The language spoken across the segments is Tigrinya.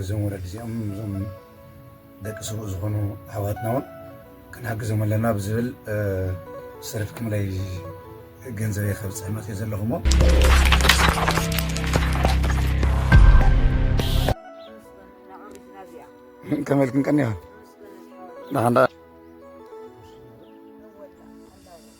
እዞም ወለዲ እዚኦም እዞም ደቂ ስሩእ ዝኾኑ ኣሕዋትና እውን ክንሓግዞም ኣለና ብዝብል ሰሪፍኩምለይ ገንዘበ ከብፅሕ መፅእ ዘለኹሞ ከመልክን ቀኒኻ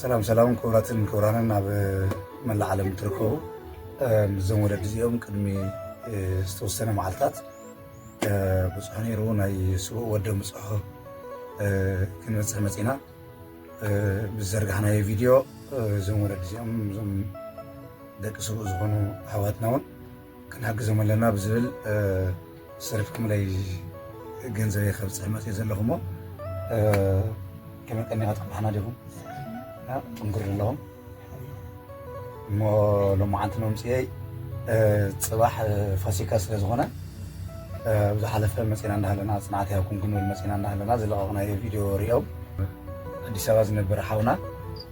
ሰላም ሰላም ክቡራትን ክቡራንን ኣብ መላእ ዓለም እትርከቡ ምስዞም ወለዲ እዚኦም ቅድሚ ዝተወሰነ መዓልታት ብፁዕ ነይሩ ናይ ስቡእ ወደ ምፅሖ ክንበፅሕ መፂና ብዘርጋሕናዮ ቪድዮ እዞም ወለዲ እዚኦም እዞም ደቂ ስቡእ ዝኾኑ ኣሕዋትና እውን ክንሕግዞም ኣለና ብዝብል ሰሪፍኩምለይ ገንዘበይ ከብፅሕ መፅእ ዘለኹ እሞ ከመይ ቀኒኻ ትቅብሓና ዲኹም ጥንክር ኣለኹም እሞ ሎማዓንቲ መምፅኤይ ፅባሕ ፋሲካ ስለ ዝኾነ ብዝሓለፈ መፂና እንዳሃለና ፅንዓት ይሃብኩም ክንብል መፂና እንዳሃለና ዝለቐቕናዮ ቪድዮ ሪኦም ኣዲስ ኣበባ ዝነበር ሓውና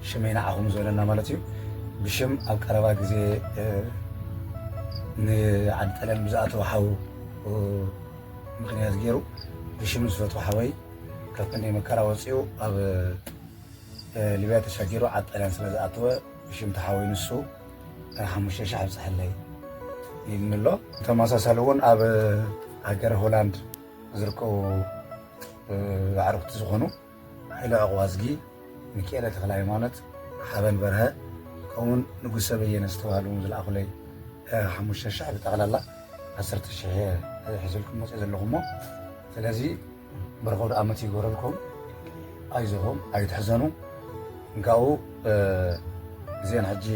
ሽመይ ንዓኹም ዝበለና ማለት እዩ ብሽም ኣብ ቀረባ ግዜ ንዓዲ ጣልያን ብዝኣተወ ሓው ምክንያት ገይሩ ብሽም ዝፈትዎ ሓወይ ካብ ክንደይ መከራ ወፂኡ ኣብ ሊብያ ተሻጊሩ ዓዲ ጣልያን ስለ ዝኣተወ ብሽም ተሓወይ ንሱ ሓሙሽተ ሽሕ ኣብፅሐለይ ኢልኒ ኣሎ ተመሳሳሊ እውን ኣብ ሃገረ ሆላንድ ዝርከቡ ኣዕርኽቲ ዝኾኑ ሃይለ ዕቕባዝጊ፣ ሚኪኤለ ተኽለሃይማኖት፣ ሓበን በርሀ ከምኡውን ንጉሰ በየነ ዝተባህሉ እውን ዝለኣኹለይ ሓሙሽተ ሽሕ ብጠቕላላ ዓሰርተ ሽሕ እየ ሒዘልኩም መፂኦ ዘለኹ እሞ ስለዚ ብርኸ ወደ ዓመት ይግበረልኩም ኣይዞኹም ኣይትሕዘኑ እንካኡ እዚአን ሕጂ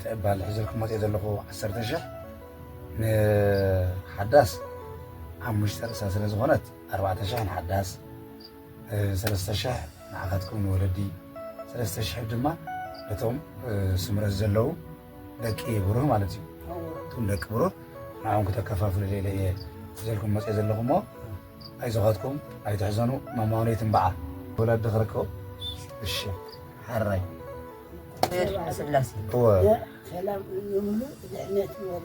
ትዕባል ሒዘልኩም መፅኦ ዘለኹ ዓሰርተ ሽሕ ንሓዳስ ሓሙሽተ ርእሳ ስለ ዝኾነት ኣርባዕተ ሽሕ ንሓዳስ ሰለስተ ሽሕ ንዓኻትኩም ንወለዲ ሰለስተ ሽሕ ድማ ነቶም ስምረት ዘለዉ ደቂ ብሩህ ማለት እዩ እቶም ደቂ ብሩህ ንዓም ክተከፋፍሉ ሌለ እየ ዘልኩም መፀ ዘለኹ እሞ ኣይዞኻትኩም ኣይትሕዘኑ ማማውነይ ትንበዓ ወላዲ ክርከቡ እሺ ሓራይ ስላሴ ሰላም ይብሉ ድሕነት ይበሉ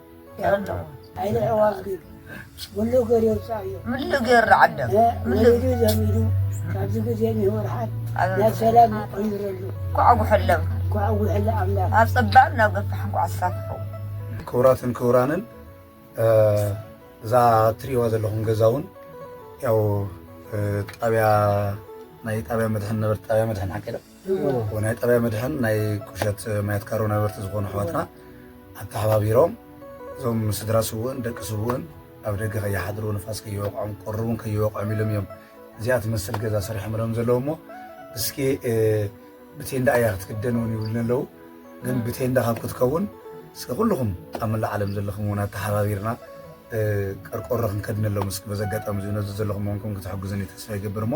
ክብራትን ክብራንን እዛ ትሪእዋ ዘለኹም ገዛ እውን ያው ጣብያ ናይ ጣብያ መድሕን ነበርቲ ጣብያ መድሕን ሓቀለ ናይ ጣብያ መድሕን ናይ ቁሸት ማያት ካሮ ነበርቲ ዝኾኑ ኣሕዋትና ኣተሓባቢሮም እዞም ስድራ ስውእን ደቂ ስውእን ኣብ ደገ ከይሓድሩ ንፋስ ከይወቕዖም ቁሪ እውን ከይወቕዖም ኢሎም እዮም እዚኣ ትመስል ገዛ ሰሪሖምሎም ዘለዉ እሞ እስኪ ብቴንዳ እያ ክትክደን እውን ይብሉኒ ኣለዉ ግን ብቴንዳ ካብ ክትከውን እስኪ ኩልኹም ኣብ መላእ ዓለም ዘለኹም እውን ኣተሓባቢርና ቀርቆሮ ክንከድነሎም እስኪ በዚ ኣጋጣሚ እዚ ነዚ ዘለኹም ኮንኩም ክትሕግዙኒ ተስፋ ይገብር እሞ